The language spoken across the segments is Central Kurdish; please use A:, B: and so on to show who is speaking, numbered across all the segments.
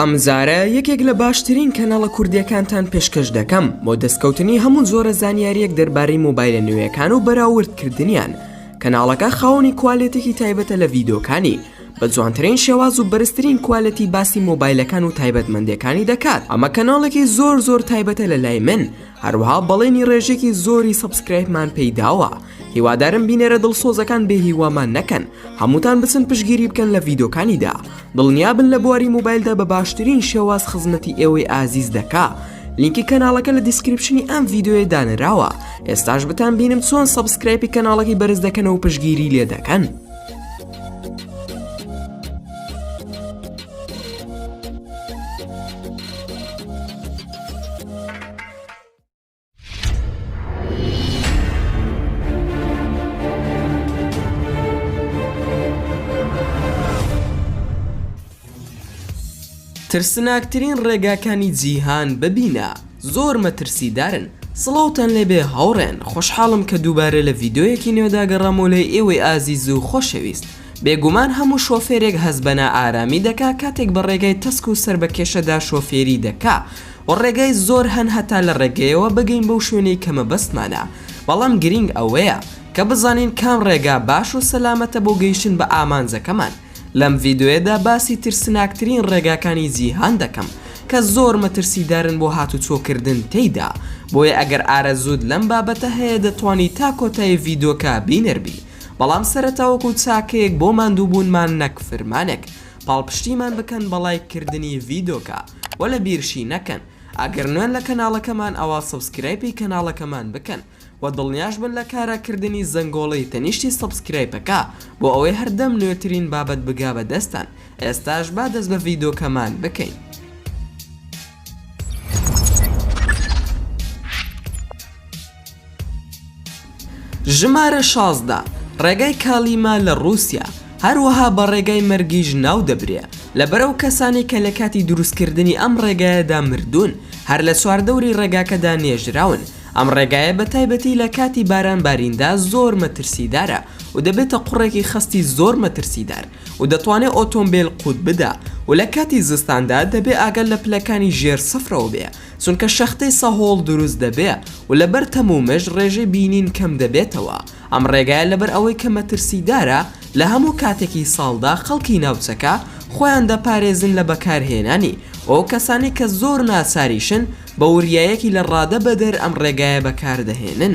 A: ئەم جارە یەکێک لە باشترین کەناڵە کوردیەکانتان پێشکەش دەکەم بۆ دەستکەوتنی هەموو زۆرە زانیاریەک دەربارەی مۆبایلە نوێیەکان و بەراوردکردنیان کەناڵەکە خاوەنی کوالێتێکی تایبەتە لە ڤیدۆکانی بە جوانترین شێواز و بەرزترین کوالەتی باسی مۆبایلەکان و تایبەتمەندەکانی دەکات ئەمە کەناڵێکی زۆر زۆر تایبەتە لە لای من هەروها بەڵێنی ڕێژێکی زۆری سەبسکرایبمان پێیداوە هیوادارم بینەرە دڵسۆزەکان بێ هیوامان نەکەن هەمووتان بچن پشگیری بکەن لە ڤیدۆکانیدا دڵنیابن لە بواری موبایلدا بە باشترین شێواز خزمەتی ئێوەی ئازیز دەکا لینکی کەناڵەکە لە دیسکرپشنی ئەم ڤیددیوێ دانراوە ئێستاش بتان بینم چۆن سەبسکرایپی کەناڵەکەی بەرز دەکەنەوە پشگیری لێ دەکەن. ترسناکترین ڕێگاکانی جیهان ببینە زۆر مەترسیدارن سڵاوتان لێبێ هاوڕێن خۆشحاڵم کە دووبارە لە ڤیددیویەکی نوێداگەڕامۆ لە ئێوەی ئازیز و خۆشەویست بێگومان هەموو شۆفێرێک هەز بەنا ئارامی دەکا کاتێک بە ڕێگای تەسک و سەر بە کێشەدا شۆفێری دەکا وە ڕێگای زۆر هەن هەتا لە ڕێگەیەوە بگەین بەو شوێنەی کە مەبەستمانە بەڵام گرینگ ئەوەیە کە بزانین کام ڕێگا باش و سەلامەتە بۆ گەیشتن بە ئامانجەکەمان لەم ڤیدۆیەدا باسی ترسناکترین ڕێگاکانی جیهان دەکەم کە زۆر مەترسیدارن بۆ هاتوچۆ کردن تێیدا بۆیە ئەگەر ئارەزووت لەم بابەتە هەیە دەتوانی تا کۆتایی ڤیدۆکە بینەر بی بەڵام سەرەتا وەکو چاکەیەک بۆ ماندووبوونمان نەک فرمانێک پاڵپشتیمان بکەن بە ڵایک کردنی ڤیدۆکە. وەلا بیرشی نەکەن ئەگەر نوێن لە کەناڵەکەمان ئەوا سەبسکرایپی کەناڵەکەمان بکەن وە دڵنیاش بن لە کارا کردنی زەنگۆڵەی تەنیشتی سەبسکرایپەکە بۆ ئەوەی هەردەم نوێترین بابەت بگا بە دەستتان ئێستاش با دەست بە ڤیدۆکەمان بکەین. ژمارە شازدە، ڕێگای کالیما لە ڕووسیا، هەروەها بە ڕێگای مەرگیش ناو دەبرێ، لەبەر ئەو کەسانەی کە لە کاتی دروستکردنی ئەم ڕێگایەدا مردوون، هەر لە چواردەوری ڕێگاکەدا نێژراون. ئەم ڕێگایە بە تایبەتی لە کاتی باران باریندا زۆر مەترسیدارە و دەبێتە قوڕێکی خەستی زۆر مەترسیدار و دەتوانێ ئۆتۆمبێل قووت بدا و لە کاتی زستاندا دەبێ ئاگا لە پلەکانی ژێر سفرەوە بێ چونکە شەختەی سەهۆڵ دروست دەبێ و لەبەر تەم و مژ ڕێژەی بینین کەم دەبێتەوە، ئەم ڕێگایە لەبەر ئەوەی کە مەترسیدارە لە هەموو کاتێکی ساڵدا خەڵکی ناوچەکە خۆیان دەپارێزن لە بەکارهێنانی و کەسانی کە زۆر ناچاریشن بە وریایەکی لە ڕادە بەدەر ئەم ڕێگایە بەکاردەهێنن.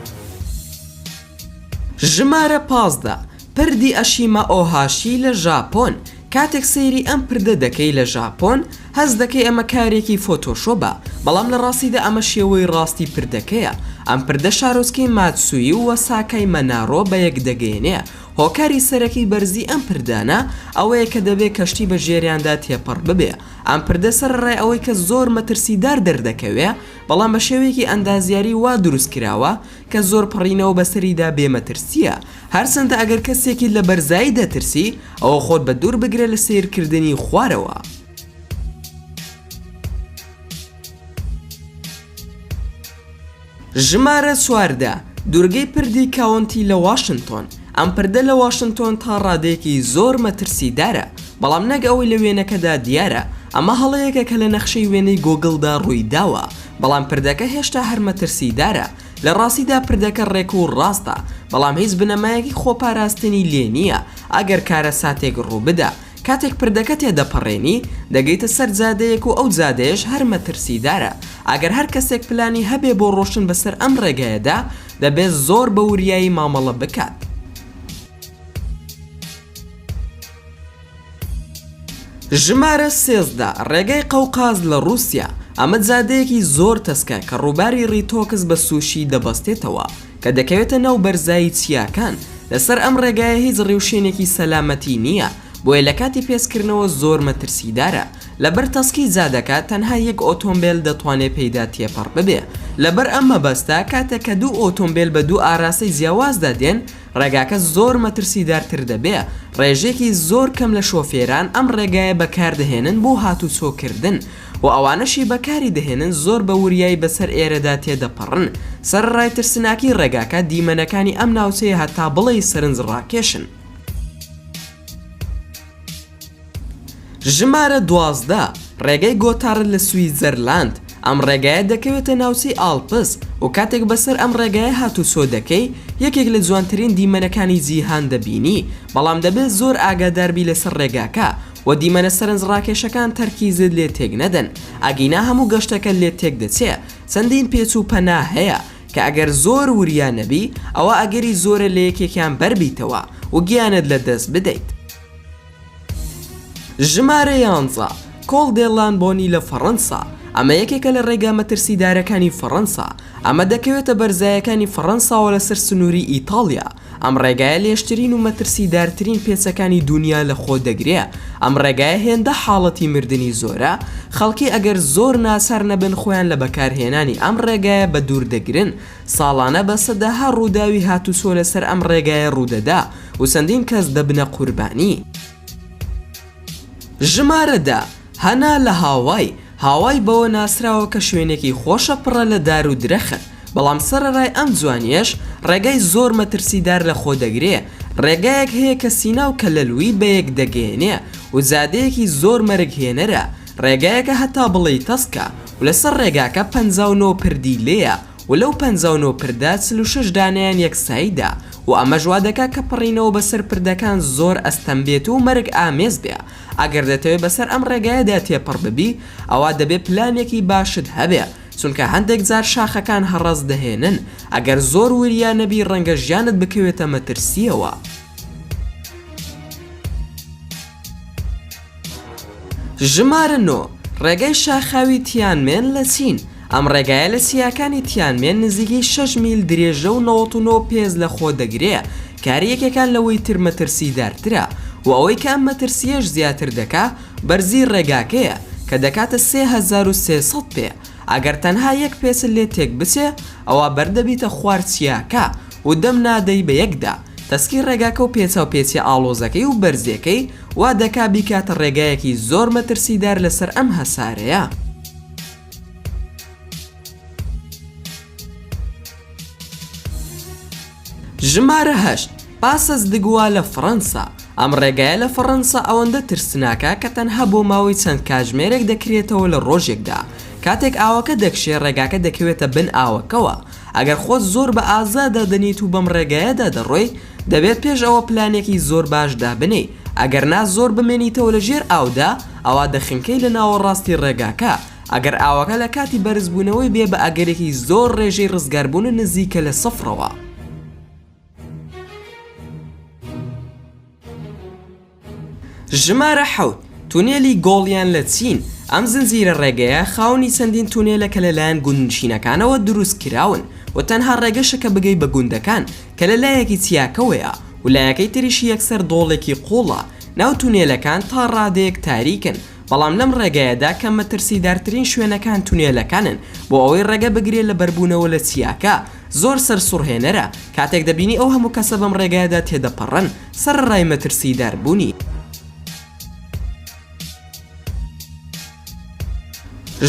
A: ژمارە پازدە، پردی ئەشیما ئۆهاشی لە ژاپۆن، کاتێک سەیری ئەم پردە دەکەی لە ژاپۆن هەست دەکەی ئەمە کارێکی فۆتۆشۆبە بەڵام لە ڕاستیدا ئەمە شێوەی ڕاستی پردەکەیە ئەم پردە شارۆچکەی ماتسوی و وەساکای مەنارۆ بە یەک دەگەینێ هۆکاری سەرەکی بەرزی ئەم پردانە ئەوەیە کە دەبێ کەشتی بە ژێریاندا تێپەڕ ببێ ئەم پردە سەرەڕای ئەوەی کە زۆر مەترسیدار دەردەکەوێ بەڵام بە شێوەیەکی ئەندازیاری وا دروست کراوە کە زۆر پەڕینەوە بەسەریدا بێ مەترسییە، هەرچەندە ئەگەر کەسێکیت لە بەرزایی دەترسی، ئەوە خۆت بە دوور بگرە لە سەیرکردنی خوارەوە. ژمارە چواردە، دوورگەی پردی کاونتی لە واشنتۆن. ئەم پردە لە واشنتۆن تا ڕادەیەکی زۆر مەترسیدارە، بەڵام نەک ئەوەی لە وێنەکەدا دیارە، ئەمە هەڵەیەکە کە لە نەخشەی وێنەی گۆگڵدا ڕوویداوە، بەڵام پردەکە هێشتا هەر مەترسیدارە، لە ڕاستیدا پردەکە ڕێک و ڕاستە، بەڵام هیچ بنەمایەکی خۆپاراستنی لێ نییە، ئەگەر کارەساتێک ڕووبدا کاتێک پردەکە تێدەپەڕێنی، دەگەیتە سەر جادەیەک و ئەو جادەیەش هەر مەترسیدارە، ئەگەر هەر کەسێک پلانی هەبێ بۆ ڕۆشتن بەسەر ئەم ڕێگایەدا، دەبێت زۆر بە وریایی مامەڵە بکات. ژمارە سێزدە، ڕێگای قەوقاز لە ڕووسیا، ئەمە جادەیەکی زۆر تەسکە کە ڕووباری ڕیتۆکس بە سوشی دەبەستێتەوە، کە دەکەوێتە ناو بەرزایی چیاکان، لەسەر ئەم ڕێگایە هیچ ڕیوشێنێکی سەلامەتی نییە، بۆیە لە کاتی پێچکردنەوە زۆر مەترسیدارە. لەبەر تەسکی جادەکە تەنها یەک ئۆتۆمبێل دەتوانێت پێیدا تێپەڕ ببێ، لەبەر ئەم مەبەستە کاتێک کە دوو ئۆتۆمبێل بە دوو ئاراستەی جیاوازدا دێن، ڕێگاکە زۆر مەترسیدارتر دەبێ، ڕێژەیەکی زۆر کەم لە شۆفێران ئەم ڕێگایە بەکاردەهێنن بۆ هاتوچۆکردن و ئەوانەشی بەکاری دەهێنن زۆر بە وریایی بەسەر ئێرەدا تێدەپەڕن، سەرەڕای ترسناکی ڕێگاکە دیمەنەکانی ئەم ناوچەیە هەتا بڵێی سەرنجڕاکێشن. ژمارە دوازدە، ڕێگای گۆتارد لە سویتزەرلاند، ئەم ڕێگایە دەکەوێتە ناوچەی ئاڵپس و کاتێک بەسەر ئەم ڕێگایە هاتووچۆ دەکەی یەکێک لە جوانترین دیمەنەکانی جیهان دەبینی بەڵام دەبێت زۆر ئاگاداربی لەسەر ڕێگاکە و دیمەنە سەرنجڕاکێشەکان تەرکیزت لێ تێک نەدەن ئەگینا هەموو گەشتەکەت لێت تێک دەچێ چەندین پێچ و پەنا هەیە کە ئەگەر زۆر وریا نەبی ئەوا ئەگەری زۆرە لە یەکێکیان بەر بیتەوە و گیانت لە دەست بدەیت. ژمارە یانزە، کۆڵ دێ لانبۆنی لە فەڕەنسا، ئەمە یەکێکە لە ڕێگا مەترسیدارەکانی فەڕەنسا، ئەمە دەکەوێتە بەرزایەکانی فەڕەنساوە لەسەر سنووری ئیتاڵیا، ئەم ڕێگایە لێژترین و مەترسیدارترین پێچەکانی دوونیا لە خۆ دەگرێ، ئەم ڕێگایە هێندە حاڵەتی مردنی زۆرە، خەڵکی ئەگەر زۆر ناچار نەبن خۆیان لە بەکار هێنانی ئەم ڕێگایە بە دوور دەگرن، ساڵانە بە سەدەها ڕووداوی هاتوچۆ لە سەر ئەم ڕێگایە ڕوودەدا و چەندین کەس دەبنە قوربانی. ژمارە دە، هەنا لە هاوای، هاوای بەوە ناسراوە کە شوێنێکی خۆشە پڕە لە دار و درەخت، بەڵام سەرەڕای ئەم جوانییەش ڕێگای زۆر مەترسیدار لە خۆ دەگرێ، ڕێگایەک هەیە کە سینا و کەلەلوی بە یەک دەگەیەنێ و جادەیەکی زۆر مەرگ هێنەرە، ڕێگایەکە هەتا بڵێی تەسکە و لەسەر ڕێگاکە پەنجا و نۆ پردی لێیە و لەو پەنجا و نۆ پردە چل و شەش دانەیان یەک سایدە و ئەمەش وا دەکات کە پەڕینەوە بەسەر پردەکان زۆر ئەستەم بێت و مەرگ ئامێز بێ ئەگەر دەتەوێ بەسەر ئەم ڕێگایەدا تێپەڕ ببی ئەوا دەبێ پلانێکی باشت هەبێ چونکە هەندێک جار شاخەکان هەڕەس دەهێنن ئەگەر زۆر وریا نەبی ڕەنگە ژیانت بکەوێتە مەترسیەوە. ژمارە نۆ، ڕێگای شاخاوی تیانمێن لە چین، ئەم ڕێگایە لە چیاکانی تیانمێن نزیکەی شەش میل درێژە و نەوەت و نۆ پێز لە خۆ دەگرێ، کاری یەکەکان لەوەی تر مەترسیدارترە و ئەوەی کە ئەم مەترسییەش زیاتر دەکا بەرزی ڕێگاکەیە کە دەکاتە سێ هەزار و سێ سەد پێ، ئەگەر تەنها یەک پێچت لێ تێک بچێ ئەوا بەردەبیتە خوار چیاکە و دەم نادەی بە یەکدا تەسکی ڕێگاکە و پێچاوپێچیە ئاڵۆزەکەی و بەرزیەکەی وا دەکا بیکاتە ڕێگایەکی زۆر مەترسیدار لەسەر ئەم هەسارەیە. ژمارە هەشت، پاسس د گوا لە فڕەنسا، ئەم ڕێگایە لە فەڕەنسا ئەوەندە ترسناکە کە تەنها بۆ ماوەی چەند کاژمێرێک دەکرێتەوە لە ڕۆژێکدا، کاتێک ئاوەکە دەکشێ ڕێگاکە دەکەوێتە بن ئاوەکەوە، ئەگەر خۆت زۆر بە ئازا دادەنێیت و بەم ڕێگایەدا دەڕۆیت، دەبێت پێش ئەوە پلانێکی زۆر باش دابنێی ئەگەر نا زۆر بمێنیتەوە لە ژێر ئاودا ئەوا دەخنکێی لە ناوەڕاستی ڕێگاکە ئەگەر ئاوەکە لە کاتی بەرزبوونەوەی بێ بە ئەگەرێکی زۆر ڕێژەی ڕزگاربوونە نزیکە لە سفرەوە. ژمارە حەوت، تونێلی گۆڵیان لە چین، ئەم زنجیرە ڕێگەیە خاوەنی چەندین تونێلە کە لەلایەن گوندنشینەکانەوە دروستکراون و تەنها ڕێگەشە کە بگەی بە گوندەکان کە لە لایەکی چیاکەوەیە و لایەکەی تریشی یەکسەر دۆڵێکی قوڵە، ناو تونێلەکان تا ڕادەیەک تاریکن بەڵام لەم ڕێگەیەدا کە مەترسیدارترین شوێنەکان تونێلەکانن بۆ ئەوەی ڕێگە بگرێ لە بەربوونەوە لە چیاکە زۆر سەرسوڕهێنەرە کاتێک دەبینی ئەو هەموو کەسە بەم ڕێگایەدا تێدەپەڕن سەرەڕای مەترسیدار بونی.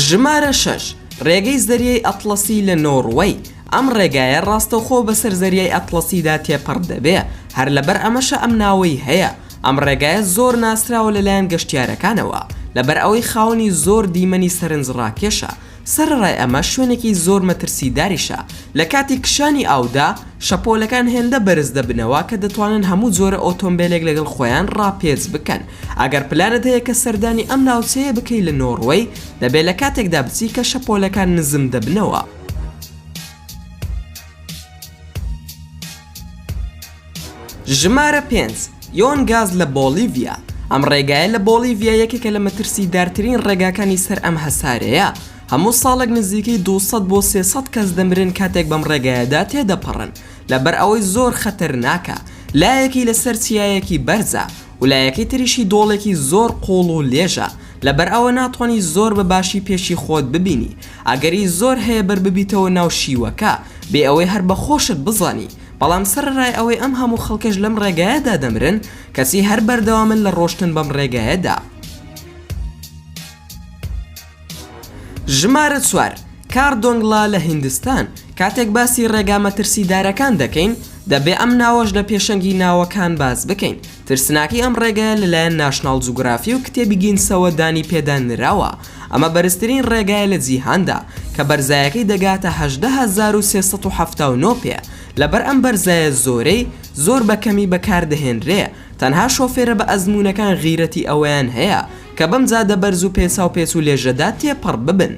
A: ژمارە شەش، ڕێگەی زەریای ئەتڵەسی لە نۆڕوەی، ئەم ڕێگایە ڕاستەوخۆ بەسەر زەریای ئەتڵەسیدا تێپەڕ دەبێ، هەر لەبەر ئەمەشە ئەم ناوەی هەیە، ئەم ڕێگایە زۆر ناسراوە لەلایەن گەشتیارەکانەوە، لەبەر ئەوەی خاوەنی زۆر دیمەنی سەرنجڕاکێشە، سەرەڕای ئەمە شوێنێکی زۆر مەترسیداریشە، لە کاتی کشانی ئاودا شەپۆلەکان هێندە بەرز دەبنەوە کە دەتوانن هەموو جۆرە ئۆتۆمبێلێک لەگەڵ خۆیان ڕاپێچ بکەن. ئەگەر پلانت هەیە کە سەردانی ئەم ناوچەیە بکەی لە نۆڕوەی، دەبێت لە کاتێکدا بچی کە شەپۆلەکان نزم دەبنەوە. ژمارە پێنج، یۆن گاز لە بۆڵیڤیا، ئەم ڕێگایە لە بۆڵیڤیا یەکێکە لە مەترسیدارترین ڕێگاکانی سەر ئەم هەسارەیە، هەموو ساڵێک نزیکەی دوو سەد بۆ سێ سەد کەس دەمرن کاتێک بەم ڕێگایەدا تێدەپەڕن، لەبەر ئەوەی زۆر خەتەرناکە، لایەکی لەسەر چیایەکی بەرزە و لایەکەی تریشی دۆڵێکی زۆر قووڵ و لێژە، لەبەر ئەوە ناتوانی زۆر بە باشی پێشی خۆت ببینی، ئەگەری زۆر هەیە بەرببیتەوە ناو شیوەکە بێ ئەوەی هەر بە خۆشت بزانی، بەڵام سەرەڕای ئەوەی ئەم هەموو خەڵکەش لەم ڕێگایەدا دەمرن، کەچی هەر بەردەوامن لە ڕۆشتن بەم ڕێگایەدا. ژمارە چوار، کاردۆنگلا لە هیندستان، کاتێک باسی ڕێگا مەترسیدارەکان دەکەین، دەبێ ئەم ناوەش لە پێشەنگی ناوەکان باس بکەین، ترسناکی ئەم ڕێگایە لەلایەن ناشناڵ جوگرافی و کتێبی گینسەوە دانی پێدا نراوە، ئەمە بەرزترین ڕێگایە لە جیهاندا، کە بەرزایەکەی دەگاتە هەژدە هەزار و سێ سەد و حەفتا و نۆ پێ، لەبەر ئەم بەرزایە زۆرەی، زۆر بە کەمی بەکاردەهێنرێ، تەنها شۆفێرە بە ئەزموونەکان غیرەتی ئەوەیان هەیە، کە بەم جادە بەرز و پێچاو پێچ و لێژەدا تێپەڕ ببن.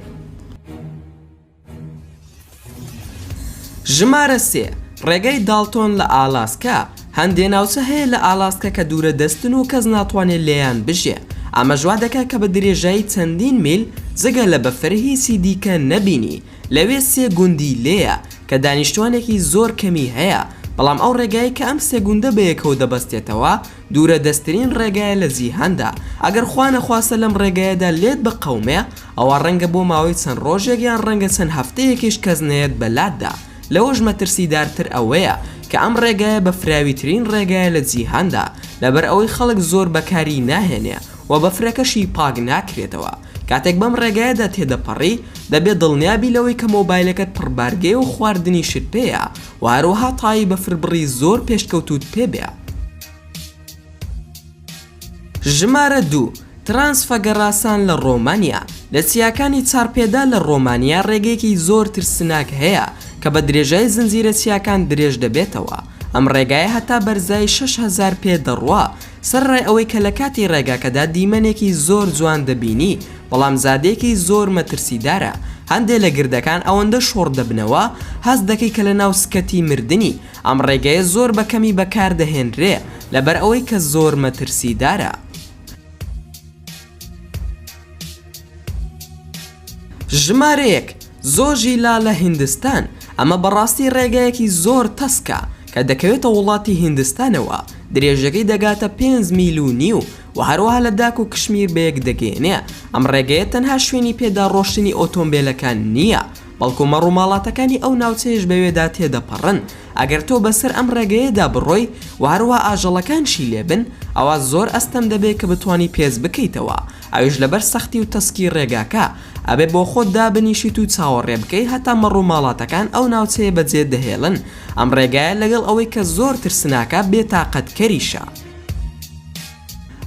A: ژمارە سێ، ڕێگای داڵتۆن لە ئالاسکا، هەندێ ناوچە هەیە لە ئالاسکا کە دوورە دەستن و کەس ناتوانێت لێیان بژێ، ئەمەش وا دەکات کە بە درێژایی چەندین میل جگە لە بەفر هیچی دیکە نەبینی، لەوێ سێ گوندی لێیە کە دانیشتوانێکی زۆر کەمی هەیە، بەڵام ئەو ڕێگایەی کە ئەم سێ گوندە بەیەکەوە دەبەستێتەوە دوورە دەستترین ڕێگایە لە جیهاندا، ئەگەر خوانەخواستە لەم ڕێگایەدا لێت بقەومێ، ئەوا ڕەنگە بۆ ماوەی چەند ڕۆژێک یان ڕەنگە چەند هەفتەیەکیش کەس نەیەت بەلاتدا، لەوەش مەترسیدارتر ئەوەیە کە ئەم ڕێگایە بەفراویترین ڕێگایە لە جیهاندا، لەبەر ئەوەی خەڵک زۆر بەکاری ناهێنێ و بەفرەکەشی پاک ناکرێتەوە، کاتێک بەم ڕێگایەدا تێدەپەڕی دەبێ دڵنیا بی لەوەی کە مۆبایلەکەت پڕبارگەیە و خواردنیشت پێیە و هەروەها تای بەفربڕی زۆر پێشکەوتووت پێبێ. ژمارە دوو، ترانس فەگەڕاسان لە ڕۆمانیا، لە چیاکانی چارپێدا لە ڕۆمانیا ڕێگەیەکی زۆر ترسناک هەیە کە بە درێژای زنجیرە چیاکان درێژ دەبێتەوە، ئەم ڕێگایە هەتا بەرزایی شەش هەزار پێ دەڕوا، سەرەڕای ئەوەی کە لە کاتی ڕێگاکەدا دیمەنێکی زۆر جوان دەبینی، بەڵام زادێکی زۆر مەترسیدارە، هەندێ لە گردەکان ئەوەندە شۆڕ دەبنەوە هەست دەکەی کە لە ناو سکەتی مردنی، ئەم ڕێگەیە زۆر بە کەمی بەکاردەهێنرێ لەبەر ئەوەی کە زۆر مەترسیدارە. ژمارەیەک، زۆژیلا لە هیندستان، ئەمە بەڕاستی ڕێگەیەکی زۆر تەسکە کە دەکەوێتە وڵاتی هیندستانەوە، درێژەکەی دەگاتە پێنج میل و نیو و هەروەها لە داک و کشمیر بەیەک دەگەیەنێ، ئەم ڕێگەیە تەنها شوێنی پێداڕۆشتنی ئۆتۆمبێلەکان نییە، بەڵکو مەڕوماڵاتەکانی ئەو ناوچەیەش بەوێدا تێدەپەڕن، ئەگەر تۆ بەسەر ئەم ڕێگەیەدا بڕۆی و هەروەها ئاژەڵەکانشی لێبن، ئەوا زۆر ئەستەم دەبێ کە بتوانی پێس بکەیتەوە، ئەویش لەبەر سەختی و تەسکی ڕێگاکە، ئەبێ بۆخۆت دابنیشیت و چاوەڕێ بکەی هەتا مەڕوماڵاتەکان ئەو ناوچەیە بەجێ دەهێڵن، ئەم ڕێگایە لەگەڵ ئەوەی کە زۆر ترسناکە بێتاقەتکەریشە.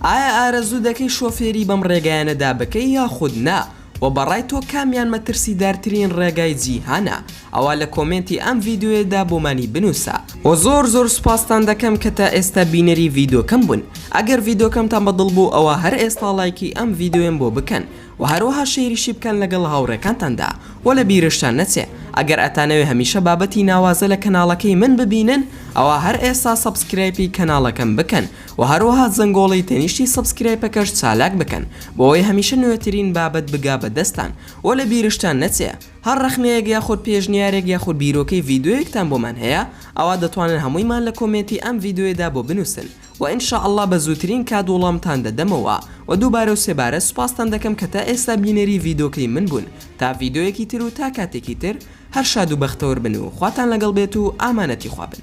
A: ئایا ئارەزوو دەکەی شۆفێری بەم ڕێگایانەدا بکەی یاخود نا؟ وە بەڕای تۆ کامیان مەترسیدارترین ڕێگای جیهانە ئەوا لە کۆمێنتی ئەم ڤیدۆیەدا بۆمانی بنوسە. وە زۆر زۆر سوپاستان دەکەم کە تا ئێستا بینەری ڤیدۆکەم بوون ئەگەر ڤیدۆکەمتان بە دڵ بوو ئەوا هەر ئێستا ڵایکی ئەم ڤیدۆیەم بۆ بکەن وە هەروەها شەیریشی بکەن لەگەڵ هاوڕێکانتاندا وە لە بیرشتان نەچێ ئەگەر ئەتانەوێ هەمیشە بابەتی ناوازە لە کەناڵەکەی من ببینن ئەوا هەر ئێستا سەبسکرایپی کەناڵەکەم بکەن وە هەروەها زەنگۆڵی تەنیشتی سەبسکرایپەکەش چالاک بکەن بۆ ئەوەی هەمیشە نوێترین بابەت بگا بە دەستان وە لە بیرشتان نەچێ هەر ڕەخنەیەک یاخود پێشنیارێک یاخود بیرۆکەی ڤیدۆیەکتان بۆمان هەیە ئەوا دەتوانن هەموویمان لە کۆمێنتی ئەم ڤیدۆیەدا بۆ بنوسن وە ان شاء اللە بە زووترین کات وڵامتان دەدەمەوە وە دووبارە و سێبارە سوپاستان دەکەم کە تا ئێستا بینەری ڤیدۆکەی من بوون تا ڤیدۆیەکی تر و تا کاتێکی تر هەر شاد و بەختەوەر بن و خواتان لەگەڵ بێت و ئامانەتی خوا بن.